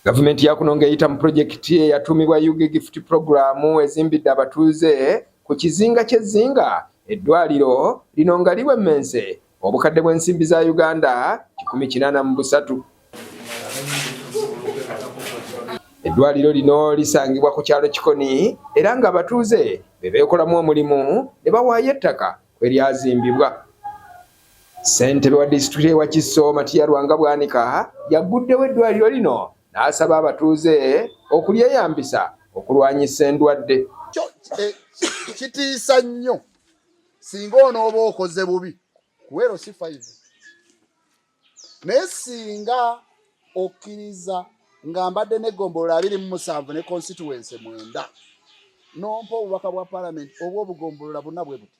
Gavumenti ya kuno ng'eyita mu pulojekiti eyatuumibwa Yuge Gift Program ezimbidde abatuuze ku kizinga ky'ezzinga eddwaliro lino nga liwemmense obukadde bw'ensimbi za Uganda kikumi kinaana mu busatu. Eddwaliro lino lisangibwa ku kyalo Kikoni era ng'abatuuze be beekolamu omulimu ne bawaayo ettaka kwe lyazimbibwa. Ssentebe wa disitulikiti ye Wakiso Matiya Lwanga Bwanika yagguddewo eddwaliro lino n'asaba abatuuze okulyeyambisa okulwanyisa endwadde. Eh, kitiisa nnyo singa onooba okoze bubi kuweero si fayivu naye singa okkiriza nga mbadde negombolola abiri mu musanvu ne constituency mwenda nompa obubaka bwa palamenti oba obugombolola buna bwe buti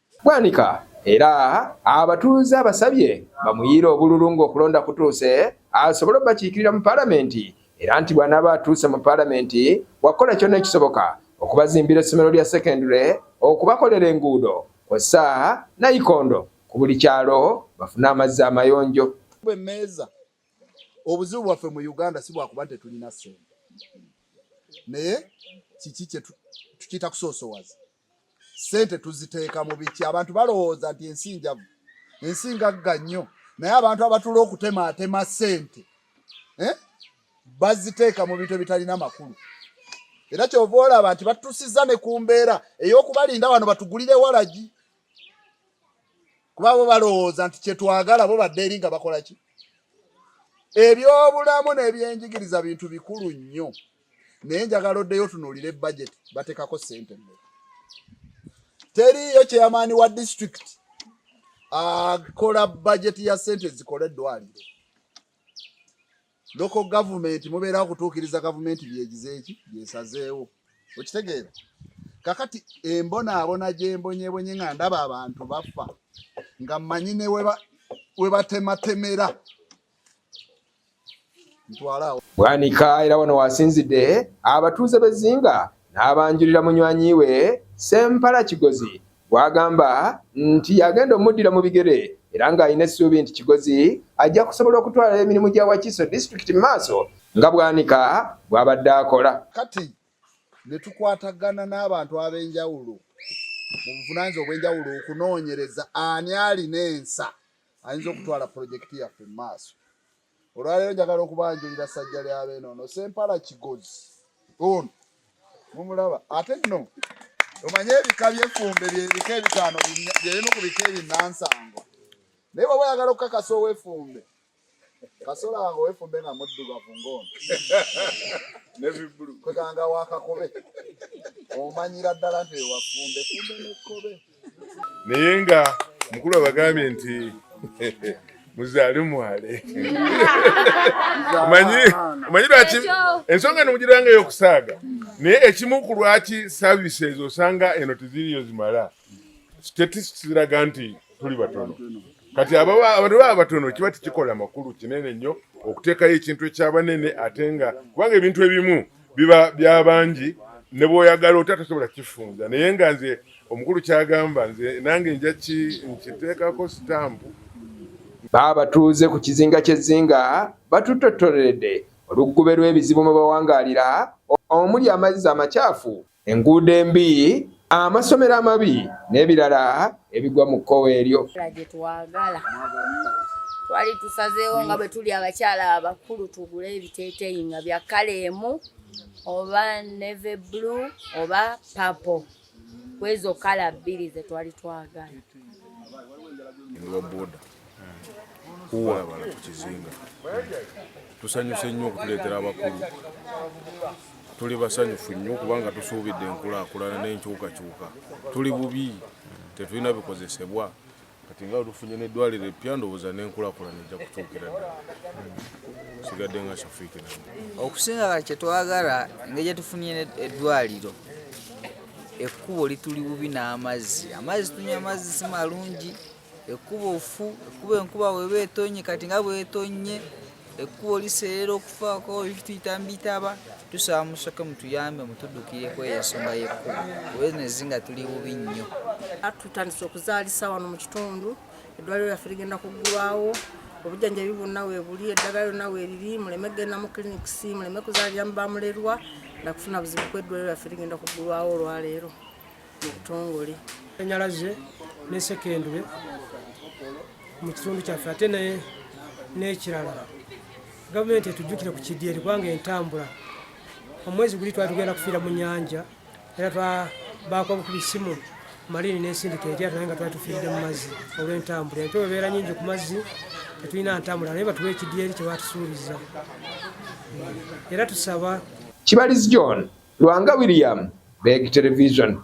Bwanika era abatuuze abasabye bamuyiire obululu ng'okulonda kutuuse asobole obakiikirira mu Palamenti era nti bw'anaaba atuuse mu Palamenti wakukola kyonna ekisoboka okubazimbira essomero lya sekendule, okubakolera enguudo kw'ossa nayikondo ku buli kyalo bafune amazzi amayonjo. Bwemmeeza obuzibu bwaffe mu Uganda si bwakuba nti tetulina ssente naye kiki kye tukiyita kusoosowaza sente tuziteeka mu biki abantu balowooza nti ensi njavu ensi ngagga nnyo naye abantu abatula okutemaatema sente eh? baziteeka mu bintu ebitalina makulu era kyova olaba nti batusiza ne ku mbeera ey'okubalinda wano batugulire walagi kuba bo balowooza nti kyetwagala bo badde eri nga bakola ki ebyobulamu n'ebyenjigiriza bintu bikulu nnyo naye njagala oddeyo otunuulire budget batekako sente mmeka teriyo chairmani wa district akola budget ya sente zikola eddwaliro loko gavumenti mubeerawo kutuukiriza gavumenti byegizeeki byesazeewo okitegeera kakati embonaabona gyembonyebonye nga ndaba abantu bafa nga mmanyi ne weba webatematemera Bwanika era wano wasinzidde abatuuze b'e Zzinga n'abanjulira munywanyi we Ssempala Kigozi gw'agamba nti yagenda omuddira mu bigere era ng'alina essuubi nti Kigozi ajja kusobola okutwala emirimu gya Wakiso disitulikiti mu maaso nga Bwanika bw'abadde akola. Kati ne tukwatagana n'abantu ab'enjawulo mu buvunaanyizibwa obw'enjawulo okunoonyereza ani alina ensa ayinza okutwala pulojekiti yaffe mu maaso. Olwaleero njagala okubanjulira ssajja lya beene ono Sempala Kigozi ono mumulaba ate nno omanye ebika by'effumbe byebika ebitaano byebimu ku bika ebinansango naye bwaba oyagala okukakasa ow'effumbe kasola wange ow'effumbe nga muddugavu ng'ono kweganga wakakobe omanyira ddala nti ewafumbe fumbe n'ekkobe naye nga mukulu abagambye nti muzaale mwale manyi manyi lwaki ensonga eno mugiranga eyokusaaga naye ekimu ku lwaki services osanga eno teziriyo zimala statistics ziraga nti tuli batono kati abantu baba abatono kiba tikikola makulu kinene nnyo okuteekayo ekintu ekyabanene ate nga kubanga ebintu ebimu biba byabangi ne bwoyagala otya tosobola kifunza naye nga nze omukulu kyagamba nze nange nja nkiteekako sitampu baabatuuze ku kizinga ky'ezzinga batutottoleredde oluggube lw'ebizibu mwe bawangaalira omuli amazzi amakyafu enguudo embi, amasomero amabi n'ebirala ebigwa mu kkowe eryo. Gyetwagala twali tusazeewo nga bwe tuli abakyala abakulu tugule ebiteeteeyi nga bya kkala emu oba neve blue oba papo kwezo kkala bbiri ze twali twagala. kuwabala ku kizinga tusanyuse nnyo okutuleetera abakulu tuli basanyufu nnyo kubanga tusuubidde enkulaakulana n'enkyukakyuka tuli bubi tetulina bikozesebwa kati nga olufunye n'eddwaliro eppya ndowooza n'enkulakulana ejja kutuukira ddala sigadde nga shafiiki na okusinga kati kyetwagala engeri gyetufunye eddwaliro ekkubo lituli bubi n'amazzi amazzi tunywa amazzi si malungi Ekkubo ffu, ekkubo enkuba weba etonnye kati nga bwetonnye ekkubo liseerera okufaako ebituyita mu bitaba tusaba musoke mutuyambe mutuddukireku eyo ensonga y'ekkubo kuba eno ezinga tuli bubi nnyo tutandise okuzaalisa wano mu kitundu eddwaliro lyaffe ligenda kuggulwawo obujjanjabi bwonna webuli eddagala lyonna weriri muleme kugenda mu clinics muleme kuzaalira mu bamulerwa nakufuna buzibu ku eddwaliro lyaffe ligenda kuggulwawo olwaleero mu butongole sanyalaze ne sekendule mu kitundu kyaffe ate n'ekirala gavumenti etujjukire ku kidyeri kubanga entambula omwezi guli twali tugenda kufiira mu nyanja era twabaako obukuba isimu malini n'ensindika erya naye nga twali tufiiride mu mazzi olw'entambula empewo ebeera nyingi ku mazzi tetulina ntambula naye batuwa ekidyeri kyebatusuubiza era tusaba Kibalizi John, Lwanga William, Beg Television.